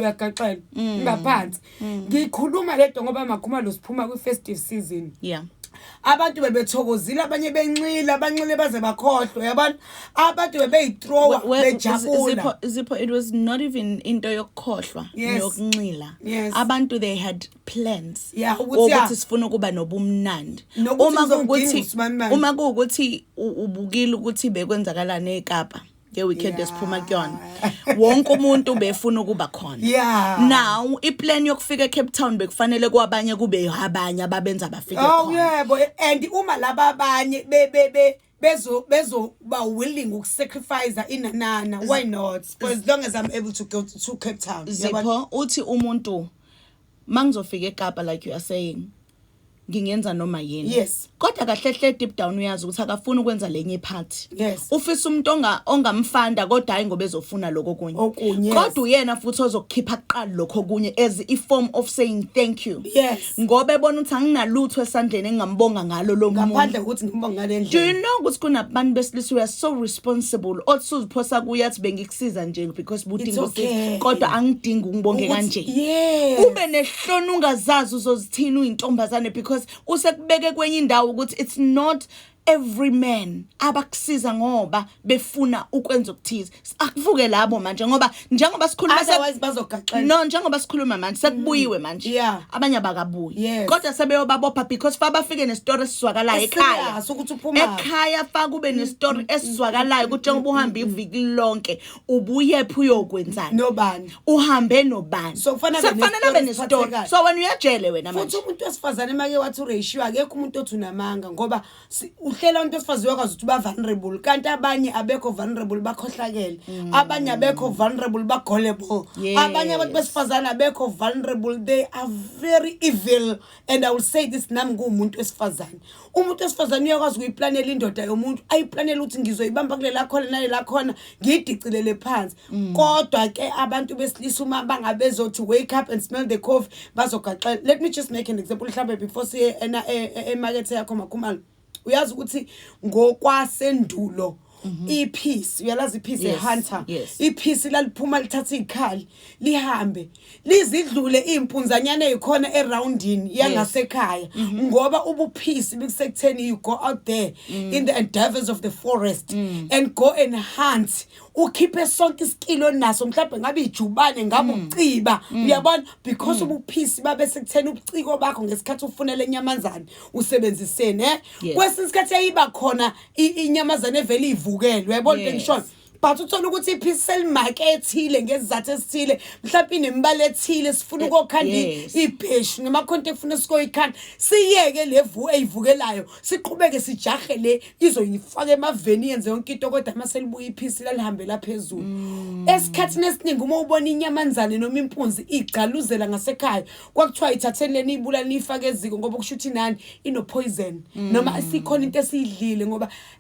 uyagaxela mm. ngaphansi mm. ngikhuluma lento ngoba makhumalo siphuma kwi-festive season yeah abantu bebethokozile abanye benxile abanxile baze bakhohlwe yabona abantu bebeyitrowa bejabula zipho it was not even into yokukhohlwa yokunxila abantu they had plans ukuthi sifuna ukuba nobumnandi uma kuwukuthi uma kuwukuthi ubukile ukuthi bekwenzakalana eKapa ngeweekend Yeah. esiphuma kuyona wonke umuntu befuna ukuba khona Yeah. now iplan yokufika ecape town bekufanele kwabanye kube abanye ababenza bafike Oh khona yebo and uma laba abanye be be be bezo bezo ba willing ukusacrifice inanana why not for as long as I'm able to go to, to Cape Town Yabona? zipho uthi umuntu mangizofika eKapa like you are saying ngingenza noma yini yes kodwa kahle hle deep down uyazi ukuthi akafuni ukwenza lenye part yes ufisa umuntu onga ongamfanda kodwa hayi ngoba ezofuna lokho kunye okunye kodwa uyena futhi ozokukhipha kuqala lokho kunye as i form of saying thank you yes ngoba ebona ukuthi anginalutho esandleni engingambonga ngalo lo muntu ngaphandle ukuthi ngimbonga ngale ndlela do you know ukuthi kunabantu besilisa we are so responsible othi uziphosa kuye athi bengikusiza nje because budingo okay. kodwa angidingi ungibonge kanje yes ube ne hlona ungazazi uzozithini uyintombazane because usekubeke kwenye indawo ukuthi it's not every man abakusiza ngoba befuna ukwenza okuthize akuvuke labo manje ngoba njengoba sikhuluma otherwise bazogaxela no njengoba sikhuluma manje sekubuyiwe mm. manje yeah. abanye abakabuyi yes. kodwa sebeyobabopha because fa bafike nesitory esizwakalayo ekhaya ekhaya fa kube mm. nesitory mm. esizwakalayo ukuthi njengoba uhamba iviki lonke ubuyephi uyokwenzani nobani uhambe nobani so kufanele abe nesitolo so wena uyajele wena manje futhi umuntu wesifazane make wathi uratio akekho umuntu othi unamanga ngoba uhlela umuntu wesifazane uyakwazi ukuthi uba vulnerable kanti abanye abekho vulnerable bakhohlakele mm. abanye abekho vulnerable bagolable abanye abantu besifazane abekho vulnerable they are very evil and i will say this nami nguwumuntu wesifazane umuntu wesifazane uyakwazi ukuyiplanela indoda yomuntu ayiplanele ukuthi ngizoyibamba kulela khona nalela khona ngiyidicilele phansi mm. kodwa ke abantu besilisa uma bangabezothi wake up and smell the coffee bazogaxela let me just make an example mhlawumbe before siye emakethe yakho makhumalo uyazi ukuthi ngokwasendulo mhm. iphisi uyalazi iphisi yes, hunter yes. iphisi laliphuma lithatha izikhali lihambe lizidlule impunzanyana ezikhona eroundini yangasekhaya yes. mm -hmm. ngoba ubuphisi bikusektheni you go out there mm. in the endeavors of the forest mm. and go and hunt ukhiphe sonke isikilo onaso mhlawumbe ngabe ijubane ngabe mm. uciba mm. uyabona because mm. ubuphisi babe sekuthena ubuciko bakho ngesikhathi ufunela inyamazane usebenziseni eh kwesinye isikhathi yayiba khona inyamazane evele ivukelwe uyabona into engishoyo but uthola ukuthi iphisi selimake ethile ngezizathu esithile mhlawumbe inembala ethile sifuna eh, ukokhanda ibheshu nemakhonto efuna sikoyikhanda siyeke levu eyivukelayo siqhubeke sijahe le izoyifaka emaveni yenze yonke into kodwa uma selibuya iphisi lalihambela phezulu mm. esikhathini esiningi uma ubona inyamanzane noma impunzi igcaluzela ngasekhaya kwakuthiwa ithatheni leni ibulali niyifake eziko ngoba kusho ukuthi nani inophoyizeni mm. noma sikhona into esiyidlile ngoba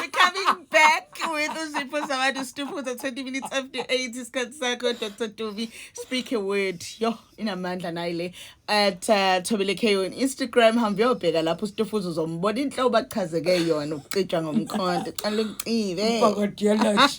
We're coming back with Uzipho Zawadi Stufuza 20 minutes after 8 isikhathi sakho Dr. Duvi speak a word yo inamandla nayi le at uh, Thobile K on Instagram hamba uyobheka lapho Stufuza uzombona inhlobo achazeke yona ukucijwa ngomkhonto cala umcibe Bakadiyalaji.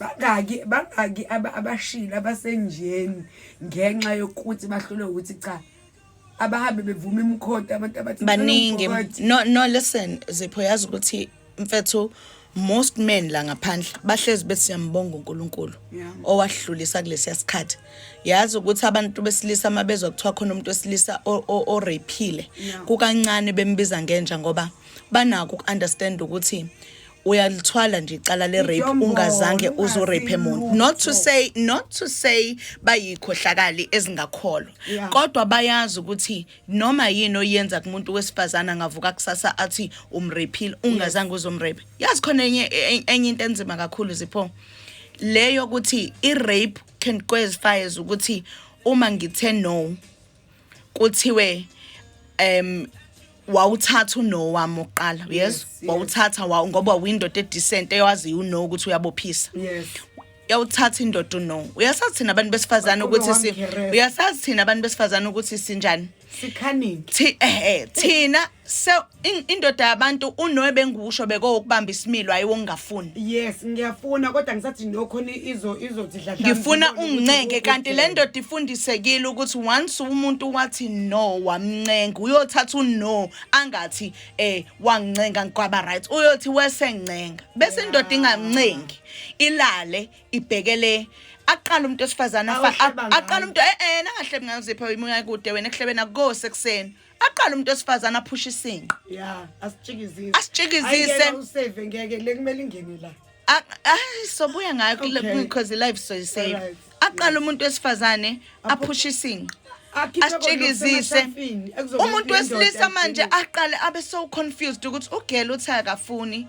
bangaki bangaki abashile abasenjeni ngenxa yokuthi bahlule ukuthi cha abahambe bevuma imkhonto abantu abathi baningi no no listen zipho yazi ukuthi mfethu most men la ngaphandle bahlezi bethi siyambonga uNkulunkulu owahlulisa kulesiya sikhathi yazi ukuthi abantu besilisa mabezwa kuthiwa khona umuntu wesilisa o rapeile kukancane bembiza ngenja ngoba banako ukunderstand ukuthi uyalithwala nje icala le rape ungazange uzo rape muntu not to say not to say bayikhohlakali ezingakholwa kodwa bayazi ukuthi noma yini oyenza kumuntu wesifazana ngavuka kusasa athi umrepile ungazange uzomrape yazi khona enye e, enye into enzima kakhulu zipho leyo ukuthi i rape can cause fires ukuthi uma ngithe no kuthiwe um wawuthatha uno wami oqala yes wawuthatha wawu ngoba windoda edecent eyaziyo uno ukuthi uyabophisa yes yawuthatha indoda uno uyasazi thina abantu besifazane ukuthi si uyasazi thina abantu besifazane ukuthi sinjani sikhaningi thi eh, eh thina se indoda yabantu unoe bengikusho bekowokubamba isimilo hayi wongafuni yes ngiyafuna kodwa ngisathi nokhona izo izothi dladla ngifuna ungincenke kanti le ndoda ifundisekile ukuthi once umuntu wathi no wamncenga uyothatha uno angathi eh wangincenga ngikwaba right uyothi wesencenga bese indoda ingamncengi ilale ibhekele aqala umuntu osifazana aqala umuntu eh eh nangahlebe ngazipha imuya kude wena ehlebena go sekuseni aqala umuntu osifazana aphusha isinqa ya asitshikizise asitshikizise usave ngeke le kumele ingene la ayi sobuya ngayo because life so save aqala umuntu wesifazane aphusha isinqa asitshikizise umuntu wesilisa manje aqale abe so confused ukuthi ugela uthi akafuni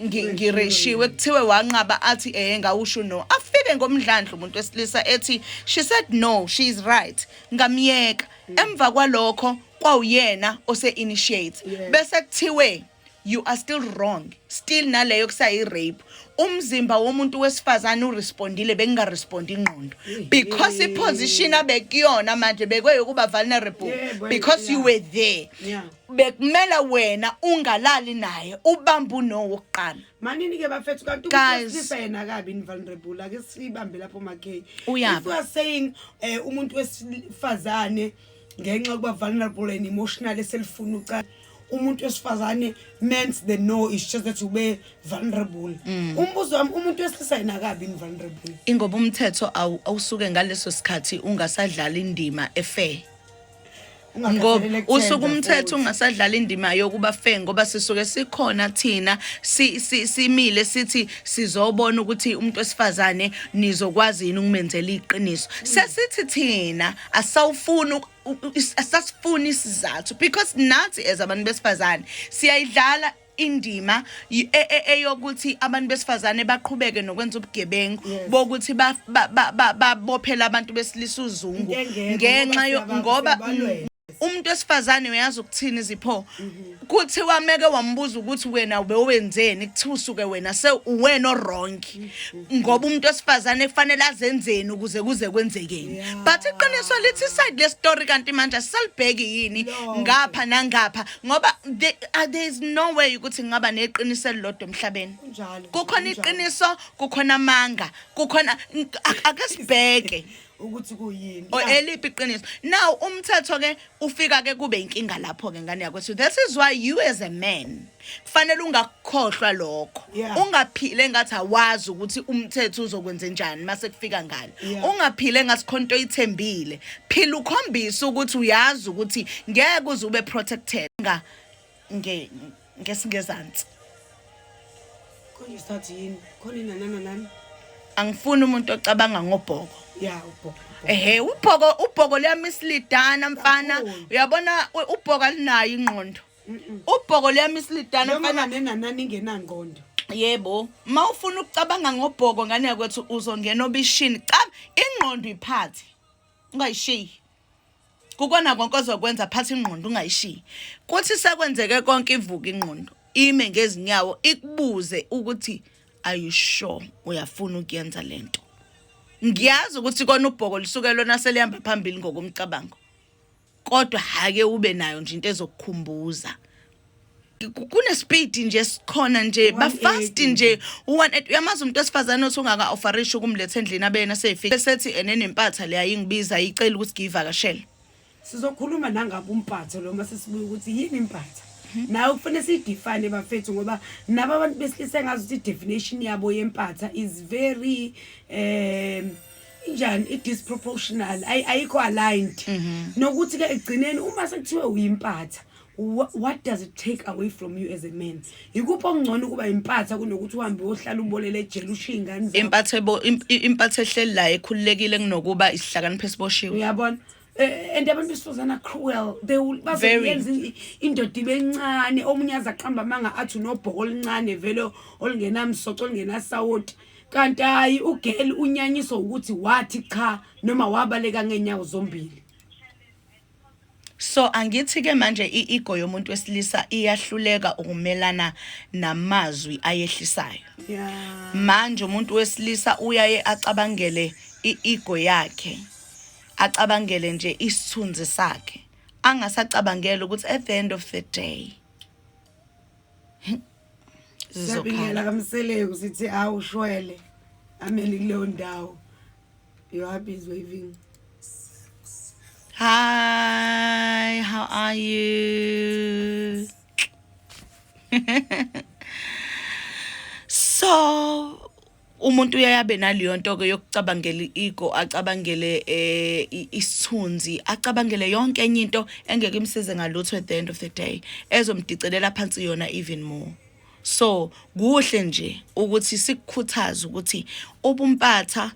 ngi- ngireshiwe kuthiwe wanqaba athi eh ngawusho no afike ngomdlandla umuntu wesilisa ethi she said no she is right ngamyeka emva kwalokho kwawuyena ose initiate bese kuthiwe you are still wrong still naleyo kusayi rape umzimba womuntu wesifazane urespondile bengingarespondi ingqondo because i position abekuyona manje bekweyokuba vulnerable Yebo, because you yeah. were there Yeah. bekumela wena ungalali naye ubambe uno wokuqala manini ke bafethu kanti ukuhlisa yena kabi ni vulnerable ake sibambe lapho makhe if you are saying eh umuntu wesifazane ngenxa yokuba vulnerable and emotional eselifuna ucala umuntu wesifazane means the no is just that ube vulnerable mm. umbuzo wami umuntu wesilisa yena kabi ni vulnerable ingoba umthetho awusuke ngaleso sikhathi ungasadlala indima efair ngoba usuke umthetho ungasadlala indima yokuba fe ngoba sisuke sikhona thina simile sithi sizobona ukuthi umuntu wesifazane nizokwazi yini ukumenzela iqiniso sesithi thina asawufuni asasifuni isizathu because nathi as abantu besifazane siyayidlala indima y- e- e- eyokuthi abantu besifazane baqhubeke nokwenza ubugebengu Yes. bokuthi ba- ba- ba- ba- babophele abantu besilisa uzungu Into engekho, ngenxa ngoba yo- siyaba- ngoba siyabalwela. mm, umuntu wesifazane uyazi ukuthini zipho kuthiwa meke wambuza ukuthi wena ubewenzeni kuthiwa usuke wena se uwena orong ngoba umuntu wesifazane kufanele azenzeni ukuze kuze kwenzekeni Yeah. but iqiniso lithi iside lestory kanti manje asisalibheki yini Lonke. ngapha nangapha ngoba the- uh, there is no way ukuthi ngingaba neqiniso elilodwa emhlabeni Kunjalo, kukhona kunjalo. iqiniso kukhona amanga kukhona ng- ak- ake sibheke ukuthi kuyini or Yeah. eliphi iqiniso now umthetho ke ufika ke kube inkinga lapho ke ngane yakwethu this is why you as a man kufanele ungakukhohlwa lokho Yeah. ungaphile ngathi awazi ukuthi umthetho uzokwenze njani mase kufika ngalo Yeah. ungaphile ngasikhonto ithembile phila ukhombisa ukuthi uyazi ukuthi ngeke uze ube protected nga nge ngesingezansi khona isikhathi yini khona inanana nani angifuni umuntu ocabanga ngobhoko ya ubhoko ehe ubhoko ubhoko liyamislidana mfana Kakhulu. uyabona u- ubhoko alinayo ingqondo ubhoko liyamisilidana mfana nenanani ingenangqondo yebo uma ufuna ukucabanga ngobhoko ngane yakwethu uzongena obishini cha ingqondo iphathe ungayishiyi kukona konke ozokwenza phatha ingqondo ungayishiyi kuthi sekwenzeke konke ivuka ingqondo ime ngezinyawo ikubuze ukuthi are you sure uyafuna ukuyenza lento ngiyazi ukuthi kona ubhoko lisuke lona selihamba phambili ngokumcabango kodwa hake ube nayo nje into ezokukhumbuza kunespeed nje sikhona nje bafast nje uyamazi umuntu esifazane othi ungaka offerisha ukumletha endlini abeyena seyifike sethi enenempatha leya ingibiza icela ukuthi ngiyivakashele sizokhuluma nangabe umpatho lo mase sibuye ukuthi yini impatha mhm. nawe kufanele siyidefine bafethu ngoba nabo abantu besilisa ngazi ukuthi i-definition yabo yempatha is very um injani i-disproportional ayikho aligned mhm. nokuthi-ke ekugcineni uma sekuthiwe uyimpatha what does it take away from you as a man yikuphi okungcono ukuba impatha kunokuthi uhambe uyohlala ubolele ejele ushiye ingane zakho impatha ebo impatha ehleli la ekhululekile kunokuba isihlakaniphe esiboshiwe uyabona eh, and abantu besifazana cruel they will bazoyenza indoda ibe encane omunye aza qamba amanga athi unobhoko oluncane vele olungenamsoco olungenasawoti Kanti hayi ugirl unyanyiswa ukuthi wathi cha noma wabaleka ngenyawo zombili. So angithi ke manje iego yomuntu wesilisa iyahluleka ukumelana namazwi ayehlisayo. Yeah. Manje umuntu wesilisa uyaye acabangele iego yakhe. Acabangele nje isithunzi sakhe. Angasacabangela ukuthi at the end of the day zizokhala kamseleku sithi awu shwele ameli kuleyo ndawo you happy is waving hi how are you so umuntu uyaye abe naleyo nto-ke yokucabangela i-ego acabangele um isithunzi acabangele yonke enye into engeke imsize ngalutho at the end of the day ezomdicelela phansi yona even more so kuhle nje ukuthi sikukhuthaze ukuthi ubumpatha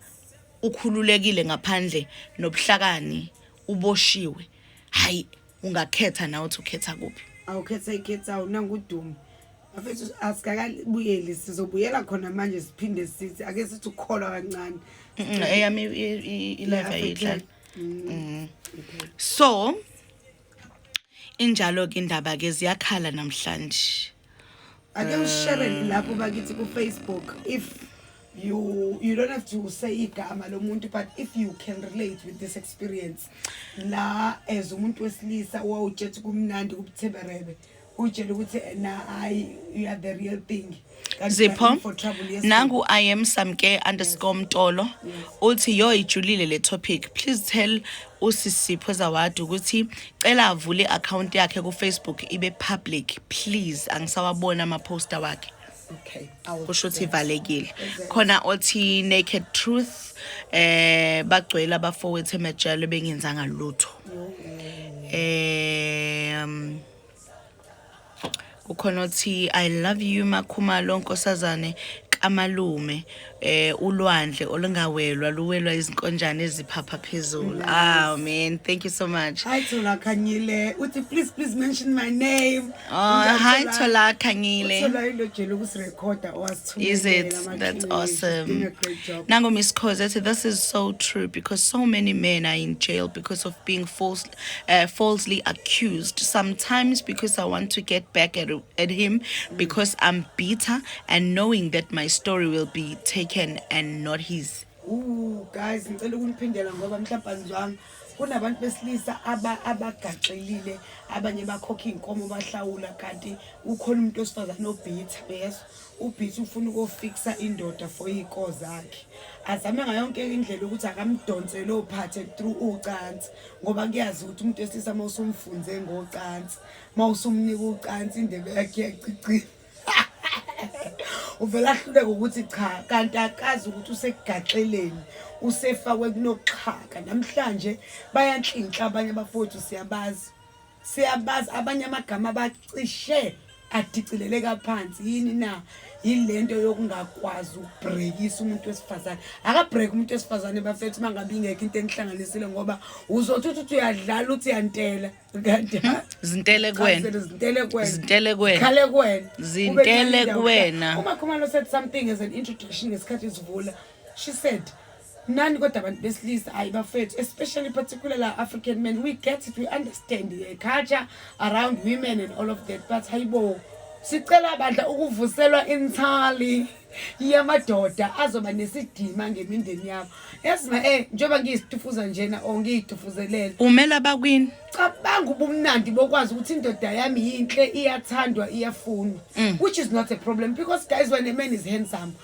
ukhululekile ngaphandle nobuhlakani uboshiwe hayi ungakhetha nawe uthi ukhetha kuphi awukhetha icape town nangudumo bafethu asikakabuyeli sizobuyela khona manje siphinde sithi ake sithi ukukholwa kancane eyami ilive ayidlala mm. mm. so injalo ke indaba ke ziyakhala namhlanje ake usherele lapho bakithi kufacebook if you you don't have to say igama lomuntu but if you can relate with this experience la as umuntu wesilisa wawutshetha kumnandi kubutheberebe utshela ukuthi na hayi you are the real thing zipho nangu i am samke underscore mtolo uthi yo ijulile le topic please tell usisipho zawadi ukuthi cela avule i-akhawunti yakhe kufacebook ibe public please angisawabona amaphosta wakhe okay kusho ukuthi ivalekile khona othi naked truth eh bagcwele abafowethu emajele bengenzanga lutho eh ukhona othi i love you makhumalo nkosazane kamalume eh ulwandle olungawelwa luwelwa izinkonjane eziphapha phezulu ah man thank you so much hi thola khanyile uthi please please mention my name oh hi thola khanyile thola ilojela ukusirecorda owasithumela is it that's awesome nango miss cause this is so true because so many men are in jail because of being false uh, falsely accused sometimes because I want to get back at, at him because I'm bitter and knowing that my story will be taken and not his. Ooh, guys, ngicela ukuniphindela ngoba mhlawumbe azizwanga kunabantu besilisa abagaxelile abanye bakhokha iy'nkomo bahlawula kanti ukhona umuntu wesifazane obhitha beso ubhithi ufuna ukofikisa indoda for iy'ko zakhe azame ngayonke indlela ukuthi akamdonsele ophathe through ucansi ngoba kuyazi ukuthi umuntu wesilisa uma usumfunze ngocansi uma usumnika ucansi indebe yakhe yacicile uvele ahluleke ukuthi cha kanti akazi ukuthi usegaxeleni usefakwe kunoxhaka namhlanje bayanhlinhla abanye abafowethu siyabazi siyabazi abanye amagama bacishe adicileleka phansi yini na yilento yokungakwazi ukubrekisa umuntu wesifazane akabreak umuntu wesifazane bafethu uma ngabe ingekho into enihlanganisile ngoba uzothi uthi uthi uyadlala uthi yantela kanti hmm? zintele kwena zintele kwena zintele kwena khale kwena zintele kwena uma khumalo said something as an introduction ngesikhathi izivula she said nani kodwa abantu besilisa hayi bafethu especially particular la african men we get it we understand the culture around women and all of that but hayibo sicela bandla ukuvuselwa inthali yamadoda azoba nesidima ngemindeni yabo yazi ma eh njengoba ngiyisitufuza njena or ngiyitufuzelele umela bakwini cabanga ubumnandi bokwazi ukuthi indoda yami yinhle iyathandwa iyafunwa mm. which is not a problem because guys when a man is handsome